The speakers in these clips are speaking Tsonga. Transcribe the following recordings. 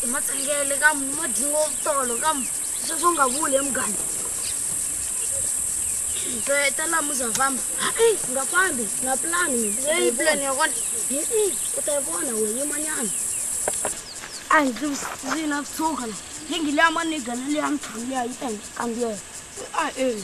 hi matsengele ka madingo tolo ka sweswo nga vuli emugani ta laha muza famba hayi nga fambi nga pulani leyi pulani ya kona hi u ta yi vona we yimanyana a hi ndzi na tshuka la lingi leya manigana leya mitshamu leya yi ta hi kambiyela a eli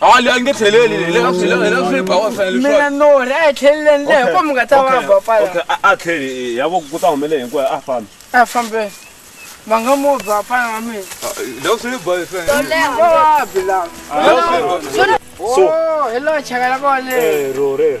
hali a nge tlheleli le a tlhela le a tlhela ba wa fela leswi mina no re a tlhelele ndle hi komu nga ta va ba pala okay a tlhele ya vo ku ta humele hi ku a fambi a fambi va nga mo ba pala wa mina le a tlhela ba fela to le ho wa bila so oh, hello chakala ko le eh ro re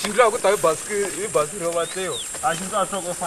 Xindlu ya ku ta hi basikiri hi basikiri yo vatliwa a xindlu a swi loko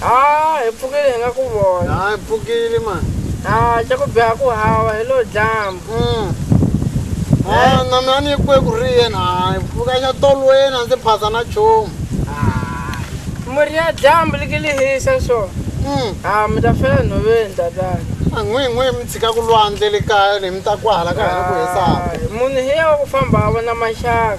haa hi pfukile hi nga ku vona ha hi pfukile ma haa xa ku biha ku hava hi lo dyambu mm. ha na mina ni kwe ku ri yena ha hi pfuka xa tolweni a ndzi phasa na chomu murhi ya dyambu liki li hisa so mm. ha mi ta fela nhoveni tatana an'wi n'wi mi tshika ku lwandle le kaya le mi ta ku hala ka hina ku hisaka munhu hi ya wa ku famba a vona maxaka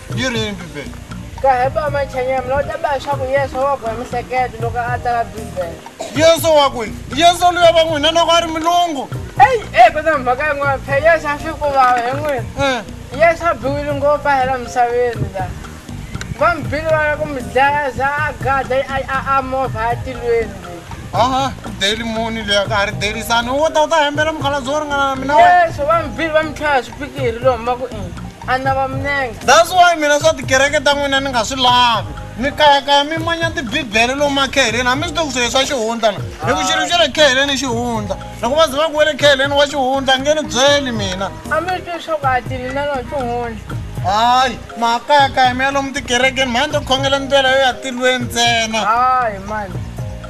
yini bibele ka heba machanyama lawa ta ba swaku yesu wa ku ya misekete loko a tsala bibele yesu wa ku yesu luya va n'wina loko a ri milungu eyi e ku na mhaka yin'wana phe yesu a swi kuvava hi n'wina eh. yesu a biwile ngopfu a hela misaveni la va mi bile va ya ku mi dlaya za a gada a movha a tilweni aha deli muni leyi ka ha ri delisani wo ta u ta hembela mukhalabyi wo ringana na mina yesu va mi bile va mi tlhela swipikiri lowu hamba ku ini ana va minenge that's why mina swa tikereke ta n'wina ni nga swi lavi mi kayakaya mi manya tibibele lomu makheheleni hambi swi to ku swilo swa xihundla na hi ku xilo xa le kheheleni i xihundla loko va ze va ku we le kheheleni wa xihundla nge ni byeli mina a mi ri twi leswaku a tini na lona xihundla hayi makayakaya mi ya lomu tikerekeni mhani to khongela ndlela yo ya tilweni ntsena hayi mani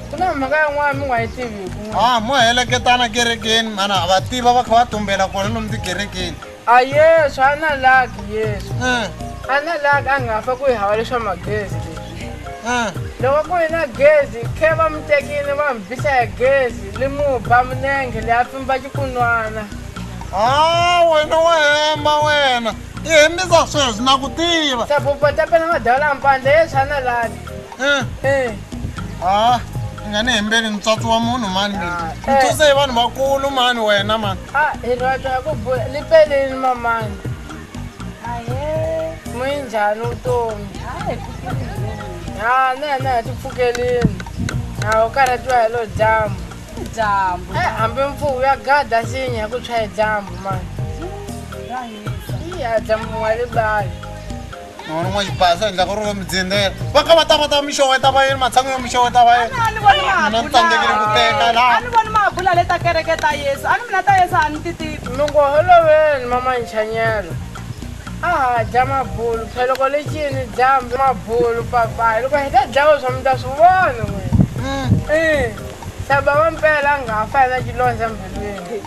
ku na mhaka yin'wana mi nga yi tiviku a mo heleketana kerekeni mana va tiva va kha va tumbela kona lomu tikerekeni a yesu a na laki yesu eh. a na laki a nga fa ku yi hava leswa magezi leswi eh. loko ku yi na gezi khe va mi tekile va mi bisa ya gezi li mu ba minenge leyi a pfimba xikunwana a ah, wena wa hemba wena i hembisa sweswi na ku tiva sabupa tapela madala mpandla yeswi a na laki Eh. Eh. Ah, nga ni hembeli mutswatsi wa munhu mani mina. Ah, eh. Mutswatsi hi vanhu vakulu mani wena mani. Ah, hi rata ku bula ni peleni mamani. Aye. Mwinjhani utomi? Hayi, pfukelini. Ah, na na ti pfukelini. Ah, u karhatiwa hi lo dyambu. Dyambu. Eh, hambi mpfuhu ya gada sinya ku tshwa hi dyambu mani. Iya, dyambu wa libali. Ngwana mwa ipasa ndla go roga mdzendela. Ba ka bata bata misho weta ba yena matsango yo misho weta ba yena. Ana ani voni Ana mahabula. tsandzekile ku teka la. Ani voni mahabula leta kereke ta Yesu. Ani mina ta Yesu ani titivi. Loko holoveni mama Nchanyelo a ha dya mabulu pheloko le cini dyambu mabulu papayi loko hi ta dlawa swa mi ta swi vona n'wina i saba wa mpela a nga fa yena cilondza mbilwini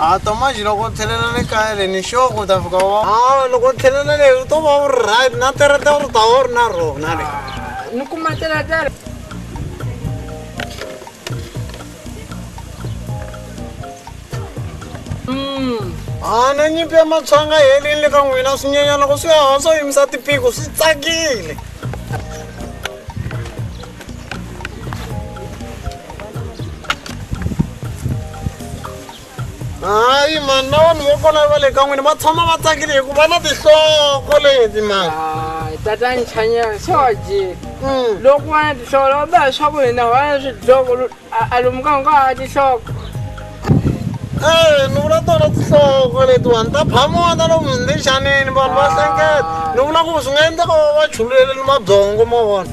a tomaji loko tlhelela le kaya le ni sure ku ta fika wa a loko tlhelela le u to va u ri right na terete u ri ta u ri na rona le ni kuma terete le a na nyimpi ya matshwanga helini le ka n'wina swinyenyana ku swi haha swo yimisa tipiko swi tsakile hayi mani na vanhu vo kona va le ka n'wini va tshama va tsakile hi ku va na tihloko leti mani Ai, tatani chanyela, só de. Hum. Logo antes, só logo, só com ele, não, antes, logo, A a lumuka nga ha tinhloko. Eh, ni vula tona tinhloko letiwani ta phamona lomu ndixanini vanhu va hlengeta ni vula ku swi nga endleka va va chululele ni mabyongo ma vona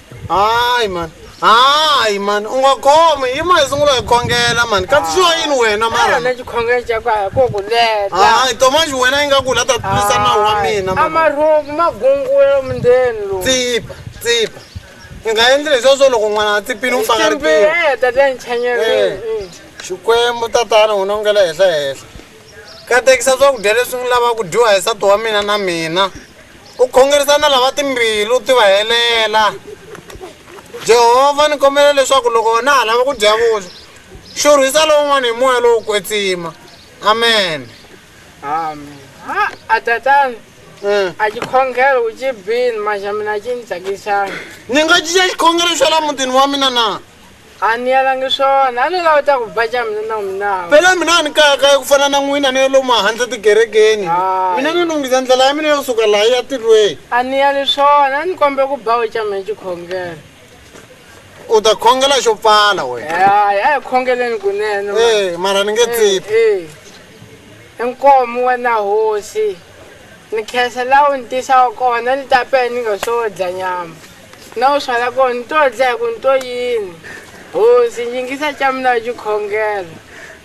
hayi mani hayi mani u nga khomi yi ma hi sungula hi khongela mani katsisiwa yini wena mara na xikhongelo xa kwaya ko ku leta hayi tomaxi wena yi nga ku la ta tlulisa nawu wa mina mama. amarhomu magungula mundeni lowu tsipa tsipa i nga endli leswiwa swo loko n'wana a tsipini u pfangaritiwa timbireta ta nchanyelweni xikwembu tatana wena u nga le henhla henhla Katekisa swakudya leswi n'wi lava ku dyiwa hi nsati wa mina na mina. U khongerisa na lava timbilu ti va helela. Jehovha ni kombela leswaku loko na ha lava ku dya vuswa, xurhisa lowun'wana hi moya lowo kwetsima. Amen. Amen. Ha, a tatana, Mm. a xikhongelo u xi bini manje mina a xi ni tsakisanga. Ni nga cinca xikhongelo xa la mutini wa mina na? A ni yalangi swona, a ni lavi ta ku ba ca mina na n'wina. Phela mina a ni kaya kaya ku fana na n'wina ni yo lomu handle tikerekeni. Mina ni lunghisa ndlela ya mina yo suka laha ya tilweni. A ni yali swona, a ni kombela ku ba we ca mina xikhongelo. U ta khongela xo pfala wena. Hi ya hi khongeleni kunene. Ee, mara ni nge tsiphi. Ee, i nkomu wena hosi. Ni khensa laha u ni tisaka kona, ni ta pela ni nga sodla nyama. Na u swala ko ni to dlaya ku ni to yini. Hosi, nyingisa ca mina wa cikhongelo.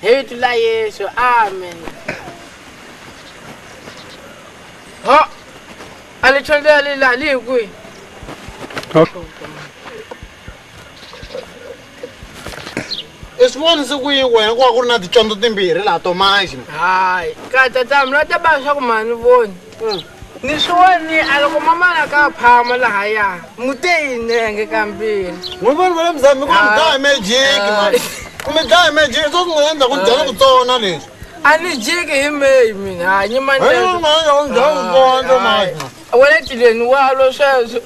Hi vitu la Yesu. Amen. Ho! A li chonde ya li la, li hi kwihi? i swi vonise ku yi wena ku va ku ri na ticondzo timbirhi laha to manje hayi ka tatamu la ta ba swaku mani voni mm. ni swi woni a loko mamana ka phama laha ya mute yinenge kambirhi n'wi voni va le muzambi ku mi dlaya mejiki mani ku mi dlaya mejiki swo swi nga endla ku dyana ku tsona leswi a ni jiki hi meyi mina hanyi manaa wena tileni walo sweswo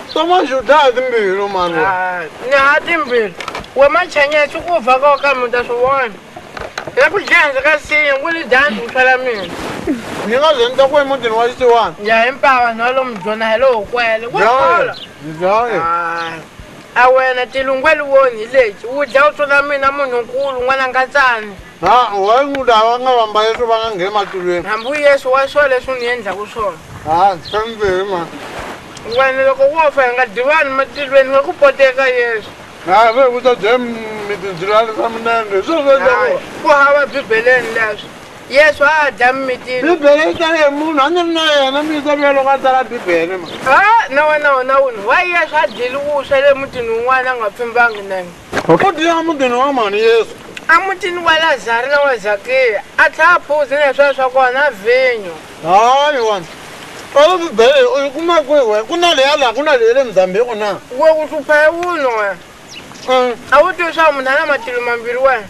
Soma juda timbiri no mano. Ah, ni ha timbiri. We machanya swi ku fa ka ka muta swi vona. Ya ku dyanza ka siya ku ni dyanza ku tlhela mina. Ni nga ze ni ta ku emutini wa xisiwana. Ya himpava na lomu byona hi lowo kwele. Ku khola. Ndzaye. Ah. A wena tilungweli woni leti. Wu dya u tsona mina munhu nkulu n'wana nkatsana. Na why muda va nga vamba Yesu va nga ngheni matulweni? Hambi Yesu wa swo leswi u ni endlaku swona. Ha, swimbirhi ma. Wena loko wo fa hi nga dyiwani matilweni nga ku poteka Yesu. Na ve ku ta dye mi tindzilalisa minenge hi sweswo leswaku. Ku hava Bibeleni leswi. Yesu a a dya mimitini. Bibele yi tsale hi munhu a ni ri na yena mi yi tsaliwe loko a tsala Bibele ma. Ha, na wena wona wunhu why Yesu a dyile wuswa le mutini wun'wana a nga pfimbangi nenge. Okay. Mudini wa mudini wa mani Yesu. A mutini wa Lazari na wa Zakeya a tlhela a phuzi na swilo swa kona vhinyo. Hayi wani. Alo Bibele u yi kuma kwihi wena? Ku na leya laha ku na leya le Mozambique na? We u hlupha hi wun'we wena. Mm. A wu tivi swa munhu a na matilo mambirhi wena.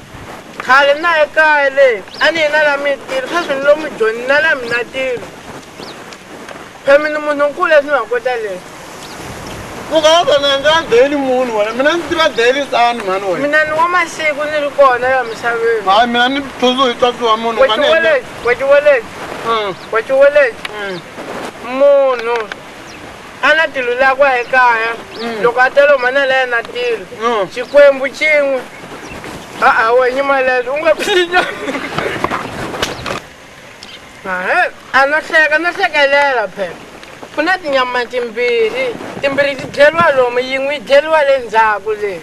Khale na ye kaya leyi a ni yi na la mitilo sweswi ni lomu joni na la mina tilo. Kami ni munhu nkulu leswi nga kota leyi. Vukaza na nga daily munhu wena mina ndzi tiva daily sani mhani wena. Mina ni wa masiku ni ri kona la misaveni. Hayi mina ni thuzu hi tsotsi wa munhu nga ni. Wetiweleti, wetiweleti. Mm. Wetiweleti. Mm. Munhu a na tilo lakwa hi kaya mm. loko a telo mana la yena tilo. Mm. Xikwembu cin'we. A a wenyi malelo u nga phinya. a no hleka no hlekelela phela ku na tinyama timbirhi timbirhi ti dyeriwa lomu yin'we yi dyeriwa le ndzhaku leyi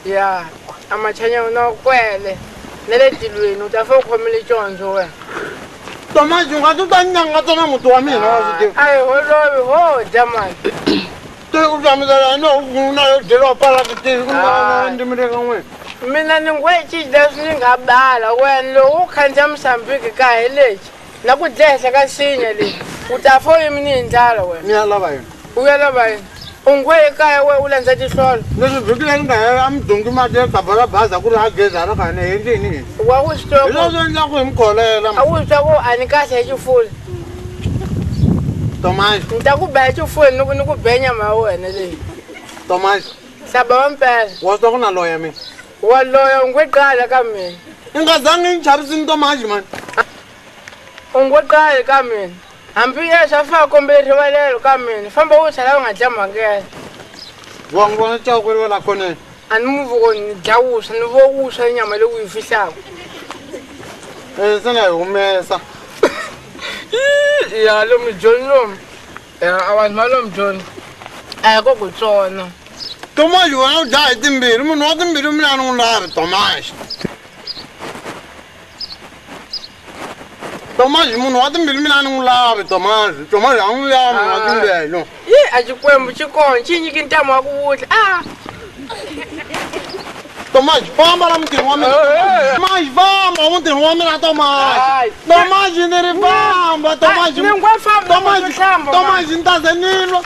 ya a machanya no kwele na le tilweni u ta fe u khomile condzo wena tomaji u nga ti ta nyanga tona muti wa mina wa swi tiva a hi holovi ho dya mani tiri ku tamisa la no vunu na yo delo pala ti tiri ku na ndi mi reka n'we mina ni ngwe ci das ni nga bala wen lo u khanja musambiki ka heleji na ku dlehla ka sinya le u ta fo yimi ni ndlala wen ni ala vayo u ya la vayo u ngwe ekaya we u landza ti hlolo ni swi bikile ni nga he a mi dungi ma ti ka bala baza ku ri ha geza ra ka ne hi ndini wa u swi twa ku ri swi endla ku hi mi kholela a u swi twa ku ani kahle hi xifula Tomás. Ni ta ku baya xifuweni ni ku ni ku be nyama ya wena leyi. Tomás. Saba wa mpela. Wa swa ku na loya mina. Wa loya u ngwe qala ka mina. I nga zangi ni chavisini Tomás mani. U ngwe qali ka mina. Hambi ye swa fana kombele rivalelo ka mina. Famba u tlhela u nga dya mhangela. Wa n'wi vona cawukeriwa la khoneni. A ni mu voni ni dya wuswa ni vo wuswa i nyama leyi u yi fihlaka e se na yi humesa ya lomu joni lomu ya a vanhu va lomu joni a hi ko ku tsona tomaxi wena u dya hi timbirhi munhu wa timbirhi mina a ni n'wi lavi tomaxi tomazi munhu wa timbilu mina a ni n'wi lavi tomazi tomazi a n'wi lavi munhu wa ah. timbilu yi a xikwembu xi kona xi nyiki ntamu wa ku vutla a ah. tomazi famba la mutirhi wa mina tomazi famba mutirhi wa mina tomazi tomazi ni ri famba tomazi tomazi ni ta ze ni lwa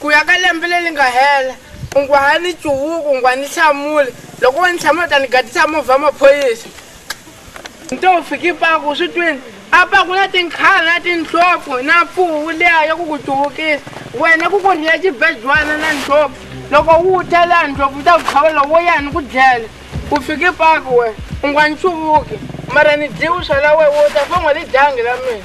Ku ya ka lembe leri nga hela, u ngo, Ha ni cuvuki, u nga ni hlamuli. Loko wo ni hlamula, u ta ni gadisa movha wa maphorisa. Ni to fika ePaku, u swi twile? Apa ku na tinkhala na tindlopfu na mfuwu liya ya ku ku cuvukisa. Wena ku ku rhiya xibejwana na ndlopfu. Loko u ta laha, ndlopfu yi ta ku tlhavela, wo ya ni ku dlele. U fika ePaku wena, u nga ni cuvuki, mara ni dyi vuswa la wena, wo ta famba ni dyangi la mina.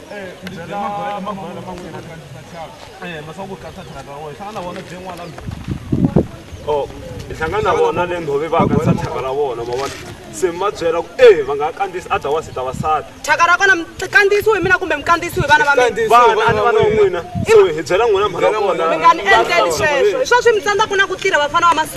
o i hlangana na vona le ndhovi va kanisa thyaka ra vona ma vona se mi va byela ku e va nga ha kandzisi a dya wasi ta vasati thyaka ra kona mikandziyisiwe hi mina kumbe mikandziyisiwe hi vana va mina vana a ni vana wa n'wina so hi byela n'wina mhaka ya kona mi nga ni endleli sweswo hi swo swi mi tsandzaku na ku tirha vafana va masiku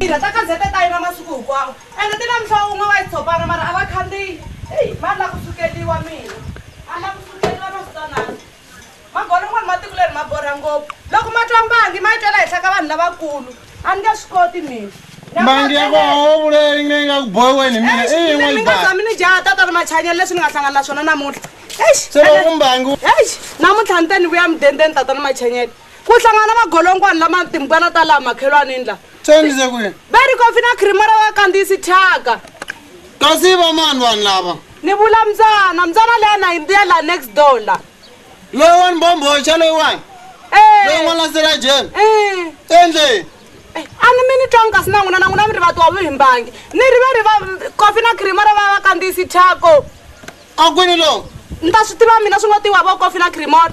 tirha ta gazete ta yina masiku hinkwawo ende ti na mihlovo wun'we wa yi tshopana mara a va khandziyi eyi va la ku sukeliwa mina a la ku sukeliwa na switanana magolo n'wana matiko leri ma borha ngopfu loko ma twa mbangi ma yi twela henhla ka vanhu lavakulu a ni nge swi koti mina mbangi ya koho vuleyi nge nga ku bohiweni mina i yin'we yi baa mina jaha tata ri machanyelo leswi ni nga hlangana na swona namuntlha se loko mbangi eish namuntlha ni te ni vuya mudendeni tata ni machanyelo ku hlangana magolonkwani lama timbukana ta laha makhelwanini laha tsendise kwihi va ri kofi na khrimara wa kandziyisi thyaka kasi va mani vanhu lava ni vula mbyana mbyana leya na yimbiya laha next door laha loyi wa ni bombhoxa loyiwani loyi n'wana sirajeni endleni a ni mi ni twanga kasi na n'wina na n'wina mi ri vatiwa vo himbangi ni ri va ri va kofi na cream ro va va kandziyisi thyako a kwini loko ni ta swi tiva mina swi ngo tiwa vo kofi na creamor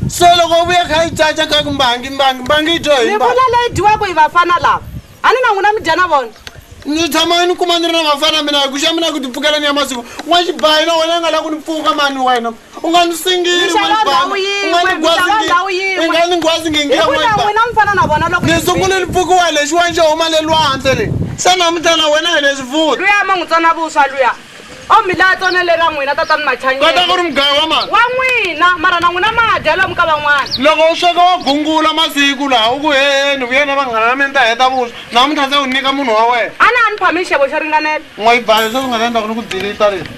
so loko u vuya kha yi caca kha ku mbangi mbangi mbangi yi dyo hi ni mbangi vula leyi dyiwaka hi vafana lava a ni na n'wina mi dya na vona ni tshama ni kuma ni ri na vafana mina hi ku xa mina ku ti pfukela ni ya masiku n'wa xibayi na wena u nga la ku ni pfuka mani wena u nga ni singili n'wa xibayi u nga ni gwazi ngi- u nga ni gwazi ngingira n'wa hikuva xibayi n'wina mi fana na vona loko ni sungule ni pfukiwa lexiwani xo huma le lwandle le se namuntlha na wena hi le swivuta luya ma n'wi tsona vuswa luya o mi laha tsone leri ra n'wina tatani machanyekota ku ri mugayo wa mali wa n'wina mara na n'wina ma dya lomu ka van'wana loko u sweka wa gungula masiku laha u ku heheni vuyena vanghana va mini ta heta vuswa na muntlha se u nyika munhu wa wena a na a ni phami xixevo xo ringanela n'wa yi baya se u nga ta endla ku ni ku dilita leti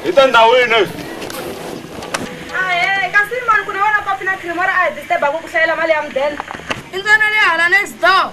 hi ta ndhawini ahe kasi mani ku na wena kopi na cream or a hi disturbaku ku hlayela mali ya mudende i ntsena le hala next door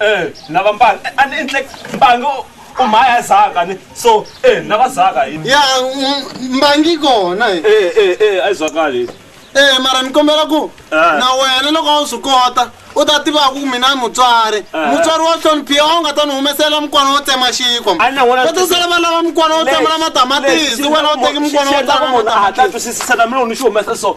Eh, na va mbanga eh, a ni endle mbanga u- u mhaya zaka ni so eh na va zaka hi ya mm, mbangi kona eh. eh eh eh a yi zwakali Eh, mara ni kombela ku Eh. na wena loko a wu swi kota u ta tivaka ku mina ni mutswari Eh. mutswari wo hloniphiwa a wu nga ta ni humesela mukwana wo tsema xikwa A ni n'wana- va ta sala va lava mukwana wo tsemela matamatisi wena u teki mukwana wo tsema hatla matamatisi twisisisa na mina u ni xi humesa so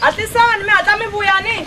Hatlisani mi hatla mi vuya ni.